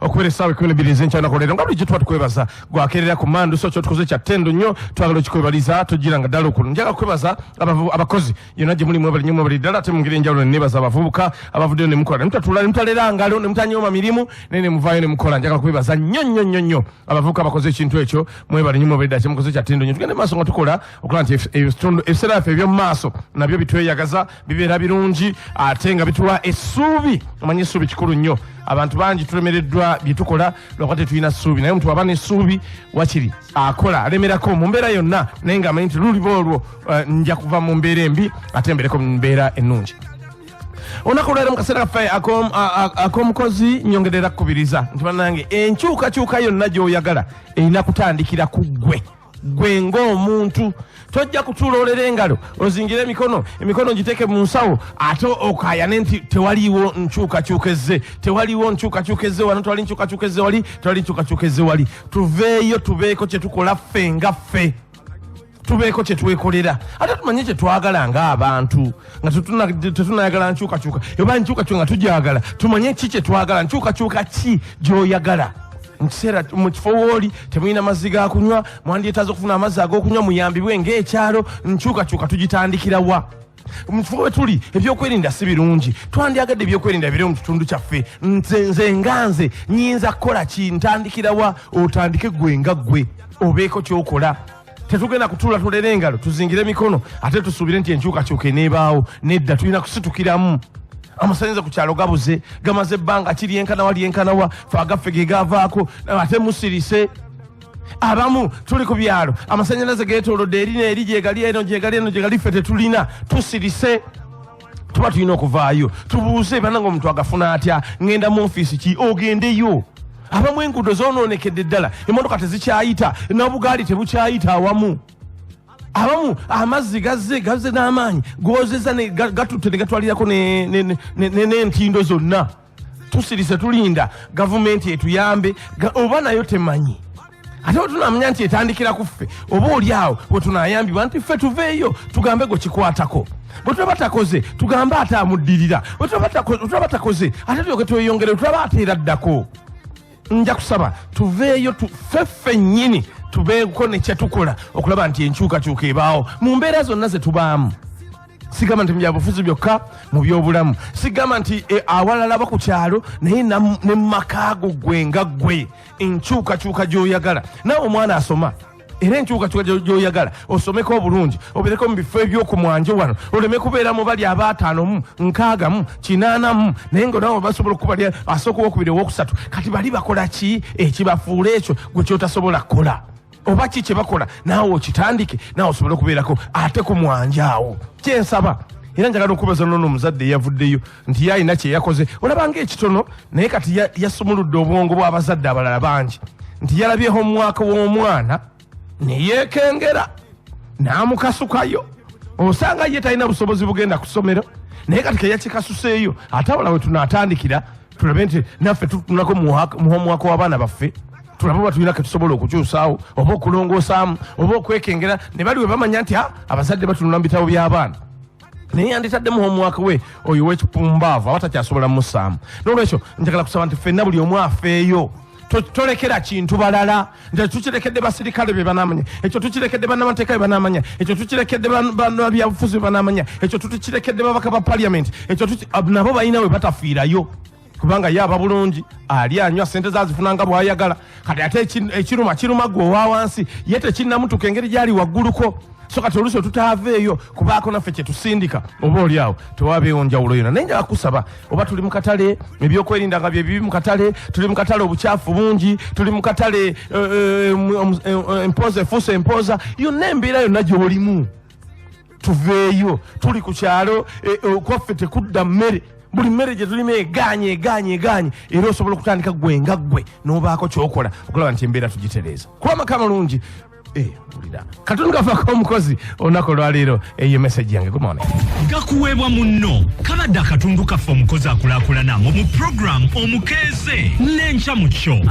okubera esaawa ekumi nebiri ezenkya nakolera nga bulijjo tuba tukwebaza gwakerera ku mandu so kyotukoze kya tendo nnyo twagala okikwebaliza tujira nga ddala okulu njaga kukwebaza abakozi yona gye muli mwebali nyo mwebali ddala ate mungeri enjawulo nenebaza abavubuka abavuddeyo nemukola nemutatula nemutalera ngalo nemutanyooma mirimu naye nemuvayo nemukola njagala kukwebaza nnyo nnyo nnyo nnyo abavubuka abakoze ekintu ekyo mwebali nyo mwebali ddala kyemukoze kya tendo nnyo tugende maaso nga tukola okulaba nti ebiseera byaffe ebyomumaaso nabyo bitweyagaza bibeera birungi ate nga bituwa essuubi omanye essuubi kikulu nnyo abantu bangi tulemereddwa bye tukola lwakuba tetulina ssuubi naye omuntu aba n'essuubi wakiri akola alemerako mu mbeera yonna naye ng'amanyi nti luliba olwo eh, nja kuva mu mbeera embi ate mbereko mu mbeera ennungi olunaku olwalero mu kaseera kaffe ak'omukozi nyongerera kukubiriza nti bannange enkyukakyuka yonna gy'oyagala erina kutandikira ku ggwe gwe ng'omuntu tojja kutuula olera engalo ozingire emikono emikono ngiteeke mu nsawo ate okayane nti tewaliiwo nkyukakyuka ezze tewaliiwo nkyukakyuka ezze wano tewali nkyukakyuka ezze wali tewali nkyukakyuka ezze wali tuveeyo tubeeko kye tukola ffe nga ffe tubeeko kye twekolera ate tumanye kye twagala ng'abantu nga tetunayagala nkyukakyuka oba nkyukakyuka nga tugyagala tumanye ki kyetwagala nkyukakyuka ki gyoyagala mukiseera mu kifo wooli temulina mazzi ga kunywa mwandyetaaza okufuna amazzi ag'okunywa muyambibwe ng'ekyalo nkyukakyuka tugitandikira wa mu kifo we tuli ebyokwerinda si birungi twandyagadde ebyokwerinda bire mu kitundu kyaffe nze nze nga nze nyinza kukola ki ntandikira wa otandike gwe nga ggwe obeeko kyokola tetugenda kutuula tulere engalo tuzingire emikono ate tusuubire nti enkyukakyuka eneebaawo nedda tulina kusitukiramu amasanyalaze ku kyalo gabuze gamaze ebbanga kiri enkanawa lyenkanawa fe agaffe ge gavaako ate musirise abamu tuli ku byalo amasanyalaze getolodde eri neeri gyegali eno gyegali eno gyegali ffe tetulina tusirise tuba tulina okuvaayo tubuuze bananga omuntu agafuna atya ngenda mu ofiisi ki ogendeyo abamu enguudo zononekedde ddala emotoka tezikyayita nabugaali tebukyayita awamu abamu amazzi gazze gazze n'amaanyi gozeza gatutte ne gatwalirako n'entindo zonna tusirise tulinda gavumenti etuyambe oba nayo temanyi ate wetunamanya nti etandikira ku ffe oba oli awo wetunayambibwa nti ffe tuveeyo tugambe gwe kikwatako bwetulaba takoze tugambe ate amuddirira bwetulaba takoze ate tyoke tweyongere tulaba ate era ddako nja kusaba tuveeyo tufe ffennyini tubeeko ne kyetukola okulaba nti enkyukakyuka ebaawo mu mbeera zonna ze tubaamu sigamba nti mubyabufuzi byokka mu byobulamu sigamba nti eh, awalalaba ku kyalo naye ne mu makaago gwe nga gwe enkyukakyuka gy'oyagala nawe omwana asoma era enkyukakyuka gyoyagala osomeko obulungi obereko mu bifo ebyokumwanjo wano oleme kubeera mu bali abaataano mu nkaaga mu kinaana mu naye nga nawe basobola okukubali asooka owokubiri owokusatu kati bali bakola ki ekibafuula ekyo gwe kyotasobola kukola oba ki kye bakola naawe okitandike naawe osobole okubeerako ate ku mwanja awo kyensaba era njagala okubaza nono omuzadde eyavuddeyo nti ye alina kyeyakoze olabanga ekitono naye kati yasumuludde obwongo bw'abazadde abalala bangi nti yalabyeho omwaka w'omwana neyeekengera n'amukasukayo osanga ye talina busobozi bugenda ku ssomero naye kati keyakikasuseeyo ate abala we tunaatandikira tulabe nti naffe tutunako muhomwaka w'abaana baffe tulabe oba tulina ketusobola okukyusaawo oba okulongoosaamu oba okwekengera ne bali we bamanya nti ah, abazadde batunula mu bitabo by'abaana naye yanditaddemu homuwaka we oyo wekipumbaavu aba takyasobola musaamu nolwekyo njagala kusaba nti fenna buli omu afeeyo tolekera kintu balala nti tukirekedde basirikale be banamanya ekyo tukirekedde banamateeka be banamanya ekyo tukirekedde byabufuzi be banamanya ekyo tukirekedde babaka ba paliament ekyo nabo balina we batafiirayo kubanga ye aba bulungi ali anywa sente zazifuna nga bwayagala kati ate eki- ekiruma kiruma gwe owa wansi ye tekinnamutuka engeri gyali wagguluko so kati oluusi otutaaveeyo kubaako naffe kyetusindika oba oli awo tewabeewo njawulo yona naye njala kusaba oba tuli mu katale ebyokwerinda nga byebibi mu katale tuli mu katale obukyafu bungi tuli mu katale eh, eh, em- em- em- empooza efuusa empooza yonna embeera yonna gyolimu tuveeyo tuli ku kyalo eh, eh, okwaffe tekudda mmere buli mmere gye tulima egaanye egaanye egaanye era osobola okutandika gwe nga ggwe n'obaako kyokola okulaba nti embeera tugitereeza kuba amaka amalungi Eh, katundu kafako omukozi olunaku olwaleero eyo eh, meseji yange gumone gakuweebwa munno kabadde akatundu kaffe omukozi akulakulana mu mu programu omukeeze n'enkya mu kyo